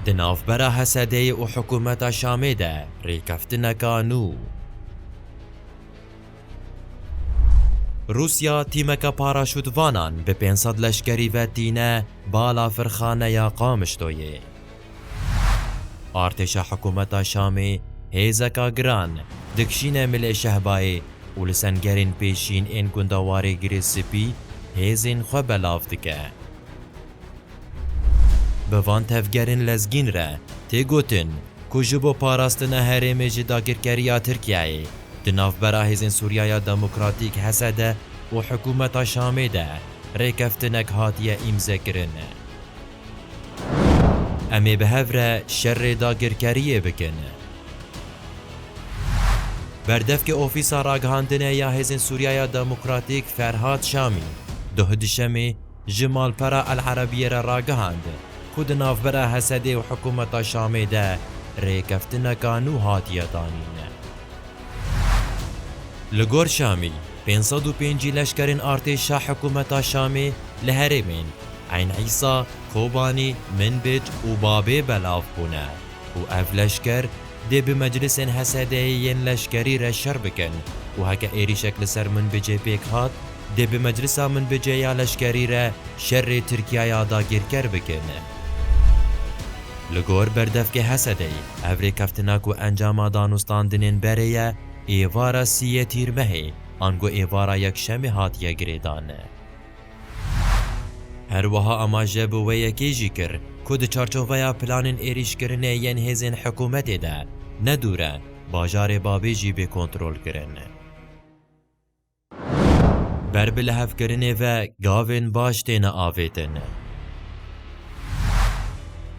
Di navbera Hesedeyê û hikûmeta Şamê de rêkeftineka nû. Rûsya tîmeke paraşûtvanan bi pênc sed leşkerî ve tîne bala firxaneya Qamişloyê. Artêşa hikûmeta Şamê hêzeka giran dikişîne Milê Şehbayê û li sengerên pêşîn ên gunda Warê Girê Spî hêzên xwe belav dike. Bi van tevgerên lezgîn re tê gotin ku ji bo parastina herêmê ji dagirkeriya Tirkiyeyê di navbera Hêzên Sûriyaya Demokratîk, HSD, û hikûmeta Şamê de rêkeftinek hatiye îmzekirin. Em ê bi hev re şerê dagirkeriyê bikin. Berdevkê Ofîsa Ragihandinê ya Hêzên Sûriyaya Demokratîk Ferhad Şamî duhduşemê, ji malpera El Erebiyê re ragihand ku di navbera Hesedê û hikûmeta Şamê de rêkeftineka nû hatiye danîn. Li gor Şamî, pênc sed û pêncî leşkerên artêşa hikûmeta Şamê li herêmên Eyn Îsa, Kobanî, Minbij û Babê belav bûne. û ev leşker dê bi meclisên HSD'ê yên leşkerî re şer bikin û heke êrîşek li ser Minbicê pêk hat, dê bi meclisa Minbicê ya leşkerî re şerê Tirkiyaya dagîrker bikin. Li gor berdevkê HSD'ê ev rêkeftina ku encama danûstandinên berê ye êvara sî yê Tîrmehê ango êvara Yekşemê hatiye girêdan. Her wiha amaje bi wê yekê jî kir ku di çarçoveya planên êrîşkirinê yên hêzên hikûmetê de ne dûr e bajarê Babê jî bê kontrolkirin. Ber bi lihevkirinê ve gavên baş têne avêtin.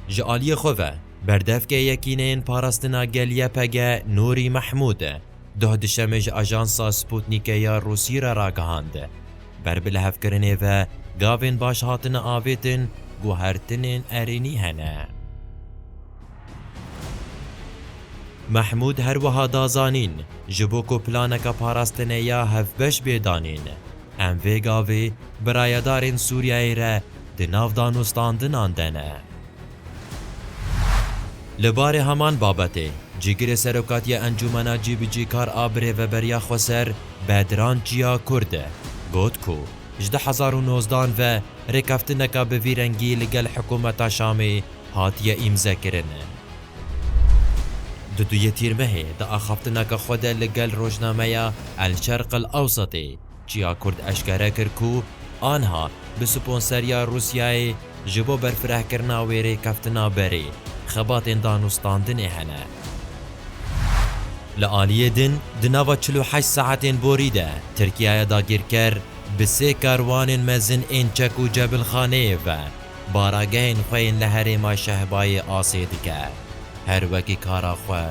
Ji aliyê xwe ve berdevkê Yekîneyên Parastina Gel-YPG Nûrî Mehmûd duh di şemê ji ajansa Sputnîkê ya Rûsî re ragihand, Ber bi lihevkirinê ve gavên baş hatine avêtin ku hertinên erênî hene. Mehmûd her wiha da zanîn, Ji bo ku planeke parastinê ya hevbeş bê danîn, em vê gavê bi rayedarên Sûriyeyê re di nav danûstandinan de ne. Li barê heman babetê, Cîgirê Serokatiya Encûmena Cîbicîkar a Birêveberiya Xweser Bedran Çiya Kurd got ku ji du hezar û nozdeh an ve rêkeftineka bi vî rengî li gel hikûmeta Şamê hatiye îmzekirin. Di duyê tîrmehê di axaftineke xwe de li gel rojnameya El Şerq El Ewsetê, Çiya Kurd eşkere kir ku anha bi sponseriya Rûsyayê ji bo berfirehkirina wê rêkeftina berê, xebatên danûstandinê hene. Li aliyê din di nava çil û heşt saetên borî de Tirkiyaya dagîrker bi sê karwanên mezin ên çek û cebilxaneyê ve baragehên xwe yên li herêma Şehbayê asê dike. Her wekî kara xwe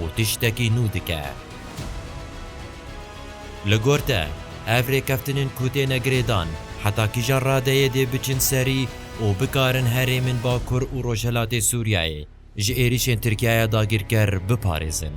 û tiştekî nû dike. Li gor te, ev rêkeftinên ku têne girêdan heta kîjan radeyê dê biçin serî û bikarin herêmên Bakur û Rojhilatê Sûriyeyê ji êrîşên Tirkiyeyê dagîrker biparêzin?